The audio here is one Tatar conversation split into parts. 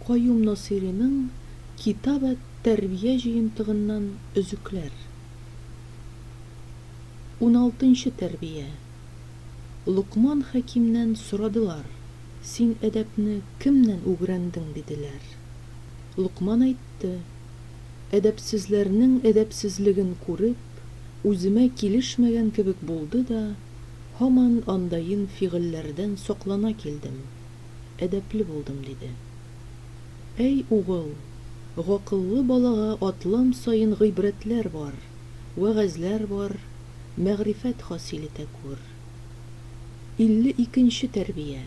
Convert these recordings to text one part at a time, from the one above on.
Каюм Насыйриның Китаб әт-Тәрбия җыентыгыннан өзекләр. Уналтынчы тәрбия. Локман Хәкимнән сорадылар, Син әдәпне кемнән үгрәндең? диделәр. Локман әйтте. Әдәпсезләрнең әдәпсезлеген күреп, үземә килешмәгән кебек булды да, һаман андаен фигыльләрдән саклана килдем, әдәпле булдым, диде. Әй, угыл, гакыллы балага атлам саен гыйбрәтләр бар, вәгазьләр бар, мәгърифәт хасил итә күр. 52 нче тәрбия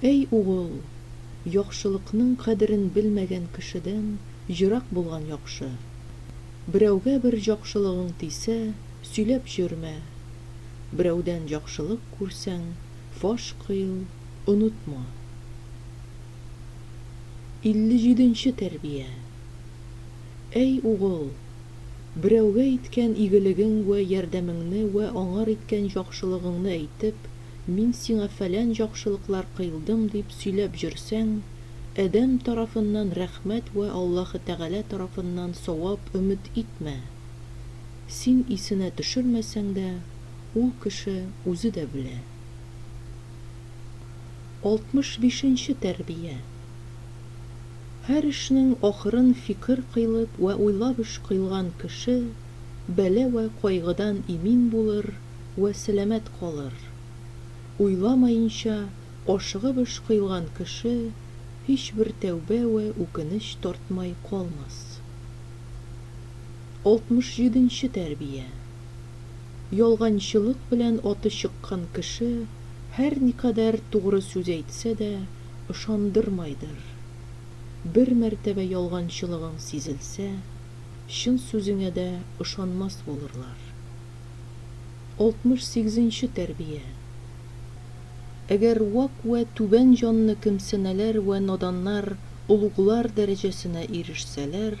Әй угыл, яхшылыкның кадерен белмәгән кешедән ерак булган яхшы. Берәүгә бер җакшылыгың тисә, сөйләп җөрмә. Берәүдән җакшылык күрсәң, фаш кыйл, онытма. 57 нче тәрбия Әй угыл! Берәүгә иткән игелегең вә ярдәмеңне вә аңар иткән җакшылыгыңны әйтеп, мин сиңа фәлән җакшылыклар кыйлдым дип сөйләп җөрсәң, әдәм тарафыннан рәхмәт вә Аллаһы Тәгалә тарафыннан савап өмет итмә. Син исенә төшермәсәң дә, ул кеше үзе дә белә. 65 нче тәрбия. Һәр эшнең ахырын фикер кыйлып вә уйлап эш кыйлган кеше бәла вә кайгыдан имин булыр вә сәламәт калыр. Уйламаенча, ашыгып эш кыйлган кеше һичбер тәүбә вә үкенеч тартмай калмас. 67 нче тәрбия. Ялганчылык белән аты чыккан кеше һәрникадәр тугры сүз әйтсә дә, ышандырмайдыр. Бер мәртәбә ялганчылыгың сизелсә, чын сүзеңә дә ышанмас булырлар. 68 нче тәрбия. Әгәр вак вә түбән җанны кемсенәләр вә наданнар олуглар дәрәҗәсенә ирешсәләр,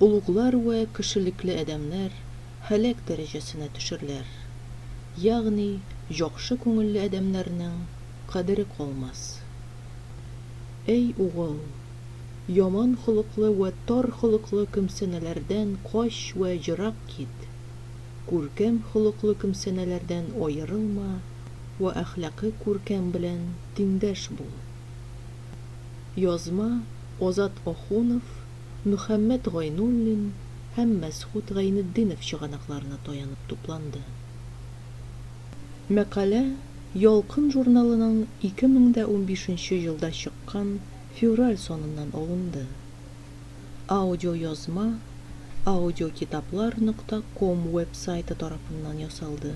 олуглар вә кешелекле адәмнәр һәлак дәрәҗәсенә төшерләр, ягъни җакшы күңелле адәмнәрнең кадере калмас. Әй, угыл, яман холыклы вә тар холыклы кемсәнәләрдән кач вә ерак кит, күркәм холыклы кемсәнәләрдән аерылма вә әхлакы күркәм белән тиңдәш бул. Язма, Азат Ахунов, Мөхәммәт Гайнуллин һәм Мәсхүт Гайнетдинов чыганакларына таянып тупланды. Мәкалә Ялкын журналының 2015 нче елда чыккан февраль саныннан алынды. Аудиоязма Аудиокитаплар нокта ком веб-сайты тарафыннан ясалды.